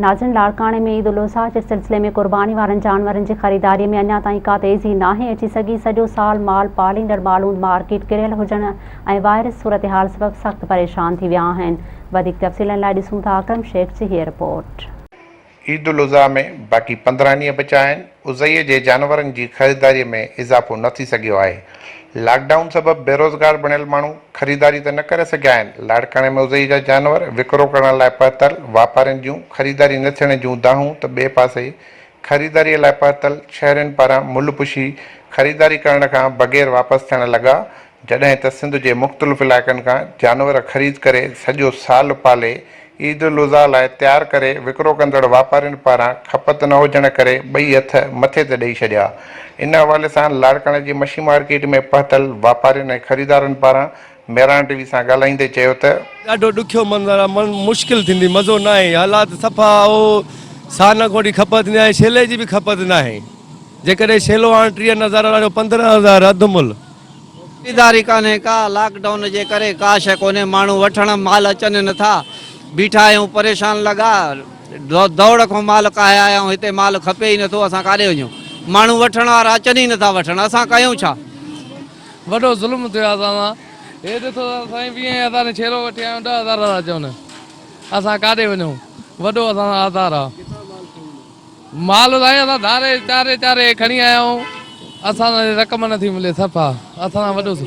ناظرين لاڙڪاڻي ۾ عيد الاضحيٰ جي سلسلي ۾ قرباني وارن جانورن جي خريداري ۾ اڃا تائين ڪا تيزي ناهي اچي سگهي، سڄو سال مال پاليندڙ مالوند مارڪيٽ ڪريل هجڻ ۽ وائرس صورتحال سبب سخت پريشان ٿي ويا آهن، وڌيڪ تفصيلن لاء ڏسون ٿا اڪرم شيخ جي هيء رپورٽ. عيد الاضحيٰ ۾ باقي پندرهن ڏينهن بچيا آهن. اضحيي جي جانورن جي خريداري ۾ اضافو نه ٿي سگهيو آهي، لاڪ ڊائون سبب بيروزگار بڻيل ماڻهو خريداري ته نه ڪري سگهيا آهن، لاڙڪاڻي ۾ اضحيي جا جانور وڪرو ڪرڻ لاء پهتل واپارين جون خريداري نه ٿيڻ جون دانهون ته ٻئي پاسي خريداري لاء پهتل شهرين پاران ملهه پوشي خريداري ڪرڻ کان بغير واپس ٿيڻ لڳا جڏهن ته سنڌ جي مختلف علائقن کان جانور خريد ڪري سڄو سال پالي عيد الاضحيٰ لاء تيار ڪري وڪرو ڪندڙ واپارين پاران کپت نه هجڻ ڪري ٻئي هٿ مٿي تي ڏئي ڇڏيا ان حوالي سان لاڙڪاڻي جي مڇي مارڪيٽ ۾ پهتل واپارين ۽ خريدارن پاران ميراڻ ٽي وي سان ڳالهائيندي چيو ته. ڏاڍو ڏکيو منظر آ مڙن مشڪل ٿيندي مزو ناهي حالات صفا او سانه گهوٽي کپت ٿيندي آهي شيلي جي به کپت ناهي جيڪڏهن شيلو هاڻ ٽيهه هزار آڻيو پندرهن هزار اڌ ملهه خريداري ڪانهي ڪا، لاڪ ڊائون جي ڪري ڪا شيء ڪونهي، ماڻهو وٺڻ مال اچن نه ٿا، بيٺا آهيون پريشان لڳا، دوڙ کان مال ڪاهي آيا آهيون، هتي مال کپي ئي نه ٿو، اسان ڪاڏي وڃون، ماڻهو وٺڻ وارا اچن ئي نه ٿا وٺڻ، اسان ڪيون ڇا؟ وڏو ظلم ٿيو آهي اسان سان، هي ڏسو ته سائين ويهين هزارين جو ڇيرو وٺي آيا آهيون، ڏهه هزار ٿا چون، اسان ڪاڏي وڃون، وڏو اسان سان آزار آهي. مال سائين اسان ڌاري چاري چاري کڻي آيا آهيون اسان سان رقم نٿي ملي صفا اسان سان وڏو سو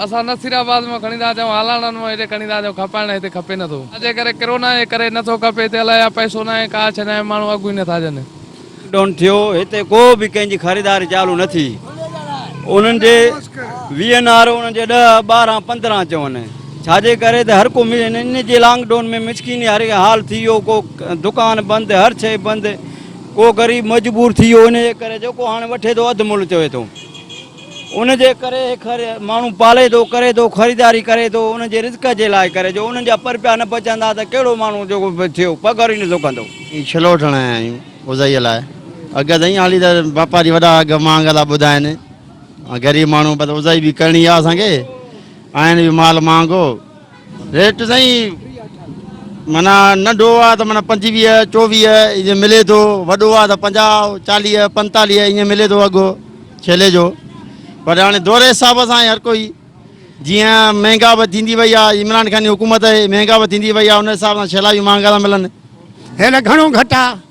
اسان نصير آباد مان کڻي ٿا اچون هالاڻن مان هيڏي کڻي ٿا اچون کپائڻ هتي کپي نٿو جي ڪري ڪرونا جي ڪري نٿو کپي هتي الائي يا پئسو ناهي ڪا شئي ناهي ماڻهو اگهه ئي نٿا ڏين. لاڪ ڊائون ٿيو هتي ڪو به ڪنهن جي خريداري چالو نه ٿي انهن جي وي اين آر انهن جي ڏهه ٻارهن پندرهن چون. ڇا جي ڪري ته هر ڪو ان جي لانگ ڊون ۾ مسڪيني هر حال ٿي ويو ڪو دڪان بند هر شئي بند ڪو غريب مجبور ٿي ويو ان جي ڪري جيڪو هاڻي وٺي ٿو اڌ ملهه چوي ٿو ان جي ڪري خر ماڻهو پالي ٿو ڪري ٿو خريداري ڪري ٿو ان جي رزق جي لاء ڪري جو انهن جا پر پيا نه بچندا ته ڪهڙو ماڻهو جيڪو ٿيو پگهر ئي نه ٿو ڪندو ڇلو وٺڻ آيا آهيون اوزائيء لاء اگهه ته ائين هالي ته واپاري وڏا اگهه مهانگا ٿا ٻڌائين غريب ماڻهو بس اوزائي به ڪرڻي آهي اسان کي آهن اهو مال مهانگو ريٽ سائين معنيٰ ننڍو آ ته معنيٰ پنجويهه چوويهه ائين ملي ٿو وڏو آ ته پنجاهه چاليهه پنتاليهه ائين ملي ٿو اگهه ڇيلي جو پر هاڻي دور حساب سان هر ڪوئي جيئن مهانگا به ٿيندي وئي آ عمران خان جي حڪومت آهي مهانگا به ٿيندي وئي آ ان حساب سان ڇيلا به مهانگا ٿا ملن هيل گهڻو گهٽ آ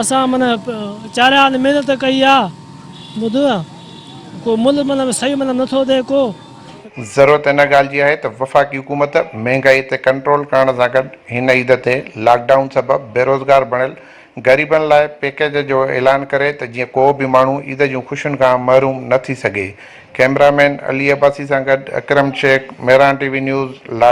اسان من چاريا ان محنت ڪئي آ ٻڌ ڪو مل من صحيح من نٿو ڏي ڪو. ضرورت ان ڳالهه جي آهي ته وفاقي حڪومت مهنگائي تي ڪنٽرول ڪرڻ سان گڏ هن عيد تي لاڪ ڊائون سبب بيروزگار بڻيل غريبن لاء پيڪيج جو اعلان ڪري ته جيئن ڪو به ماڻهو عيد جون خوشين کان محروم نه ٿي سگهي ڪئميرا مين علي عباسي سان گڏ Akram Shaikh Mehran TV news لاڙڪاڻي.